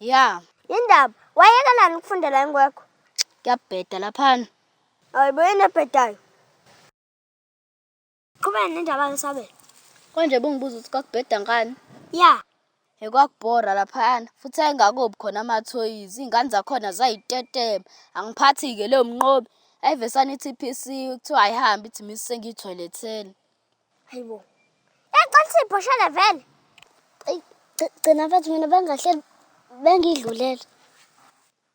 Ya, Yindaba, wayekelani ukufundela ingwekho? kuyabheda laphana. Hayibo yini ebhedayo? Qhubeka nendaba yesabelo. Konje bungibuza ukuthi kwakubheda ngani? Ya, He kwakubhora laphana futhi ayingakobi khona amathoyizi iy'ngane zakhona zayitetema angiphathi-ke leyo mnqobi ayive sanithi iphisiwe kuthiwa ayihambi ithi misi sengiyithoyiletheni Hayi bo. Yacela sibhoshele vele. Eyi gci- gcina mfethu mina bengahleli bengidlulele.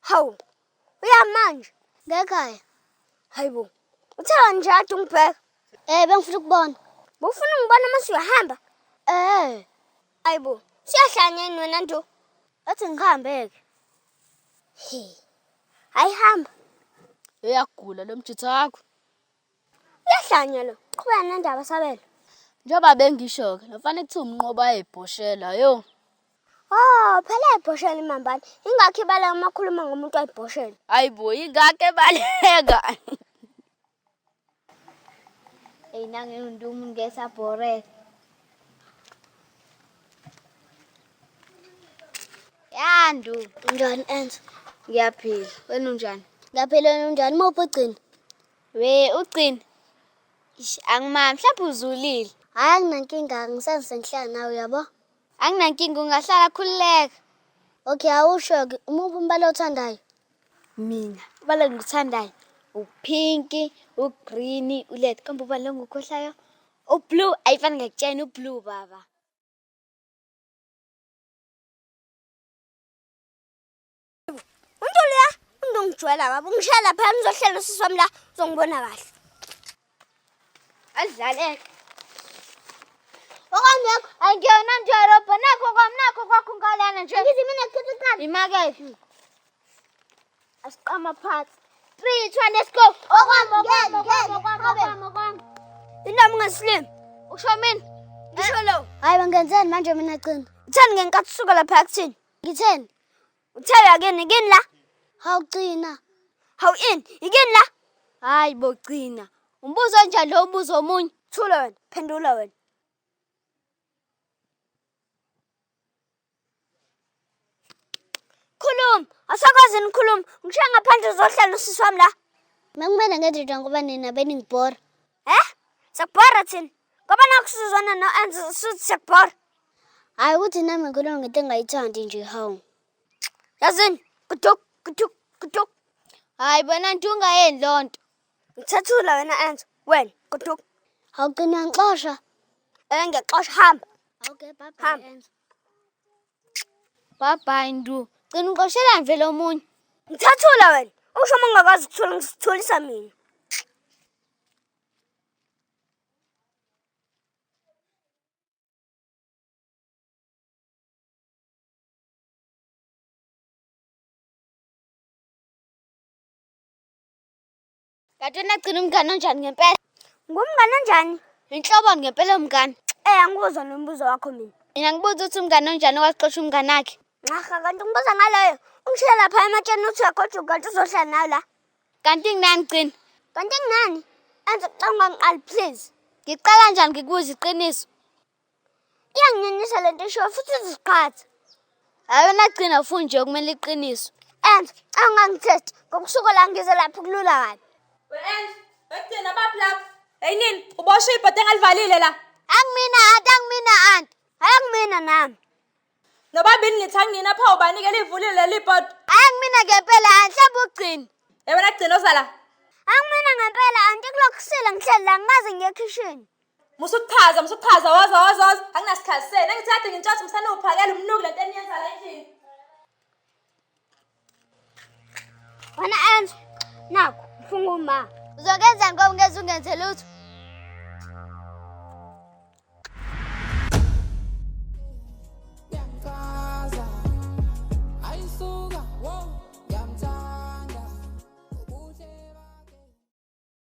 Hawu. Uya manje. Ngekhaya. Hayi bo. Uthela nje ade ungibheka. Eh bengifuna ukubona. Bufuna ungibona uma suyahamba? Eh. Hayi bo. Siyahlanya yini wena nto? Athi ngihambe ke. He. Hayi hamba. Uyagula lo mjitha wakho. Uyahlanya lo. Qhubeka nendaba sabelo. Njengoba bengisho-ke, lo mfana ekuthiwa umnqobo ayebhoshela, yo. Oh, phela ebhoshela imambane. Ingakho ibala uma khuluma ngomuntu ayibhoshela. Hayibo, ingakho ebaleka. Eyi nange undumu ngesa bhorela. Yandu. Njani enza? Ngiyaphila. Wena unjani? Ngiyaphila wena unjani? Muphi ugcina? We ucini. Ish angimami mhlawumbe uzulile. Hayi anginankinga ngisenze ngihlala nawe uyabo. Anginankinga ungahlala khululeka. Okay awusho ke umuphi umbala othandayo? Mina ubala ngikuthandayo upink, ugreen, ulet kambe ubala ngikhohlayo ublue ayifani ngakutshena ublue baba. Untu leya untu ngijwayela baba ungishaya lapha ngizohlela usisi wami la uzongibona kahle. Adlaleke. Okangekho angiyona nje robho nakho kwam nakho kwakho ngalana nje. Ngithi mina ngikhetha iqanda. Imakethe. Asiqama phansi. 3 2 let's go. Okwami okwami okwami okwami okwami. Indawo ungasilimi. Usho mina. Ngisho lo. Hayi bangenzeni manje mina cina. Thani ngenkathi usuka lapha yakuthini? Ngitheni? Uthela kini kini la? Hawugcina. Hawu in, ikini la? Hayi bo gcina. Umbuzo onjani lo ubuzo omunye? Thula wena, phendula wena. Khuluma, asakwazi nikhuluma. Ngishiya ngaphandle uzohlala usisi wami la. Makumele ngenze njani ngoba nina beningibhora. He? Siyakubhora thina. Ngoba nakho sizwana no-Enzo suthi siyakubhora. Hayi ukuthi nami ngikhuluma ngento engayithandi nje hawu. Yazini, kuduk, kuduk, kuduk. Hayi bona nto ungayeni loo nto. Ngithathula wena Enzo. Wena, kuduk. Awugcina ngixosha. Eh ngiyaxosha hamba. Okay, bye bye Hamba. Enzo. Bye bye Ndu. Gcina uqoshela nje lo munye. Ngithathula wena. Usho uma ungakwazi ukuthola ngisitholisa mina. Dadewenu agcina umngane onjani ngempela? Ngumngane onjani? Inhlobo ngempela umngane. Eh angikuzwa nombuzo wakho mina. Mina ngibuza ukuthi umngane onjani owaxosha umngane wakhe. Nxaha kanti ngibuza ngaleyo. Ungishela lapha ematsheni uthi uyagojuka kanti uzohlala nayo la. Kanti nginani qini? Kanti nginani? Enza ucanga ngiqali please. Ngiqala njani ngikubuza iqiniso? Iyanginyanyisa le nto ishoyo futhi iziqhatha. Hayi wena gcina funi nje kumele iqiniso. And awungangithethi ngokusuka la ngize lapho kulula kabi. We-End, bekugcina baphi lapho? Hey nini, uboshe ibhodo engalivalile la. Angimina anti angimina anti. Hayi angimina nami. Nobabili nithi angina pha ubani ke livulile leli bhodi. Hayi kumina ngempela anhlaba ugcini. Yebo nagcina osala. Angimina ngempela anti kulokusile ngihleli la ngimazi ngiye ekhishini. Musuchaza musuchaza woza woza woza anginasikhathi senu engithathe ngintshothe msana uphakela umnuki lento eniyenza la endlini. Wena Enzo, nakho mfunga uma. Uzokenzani ngoba ngeze ungenze lutho?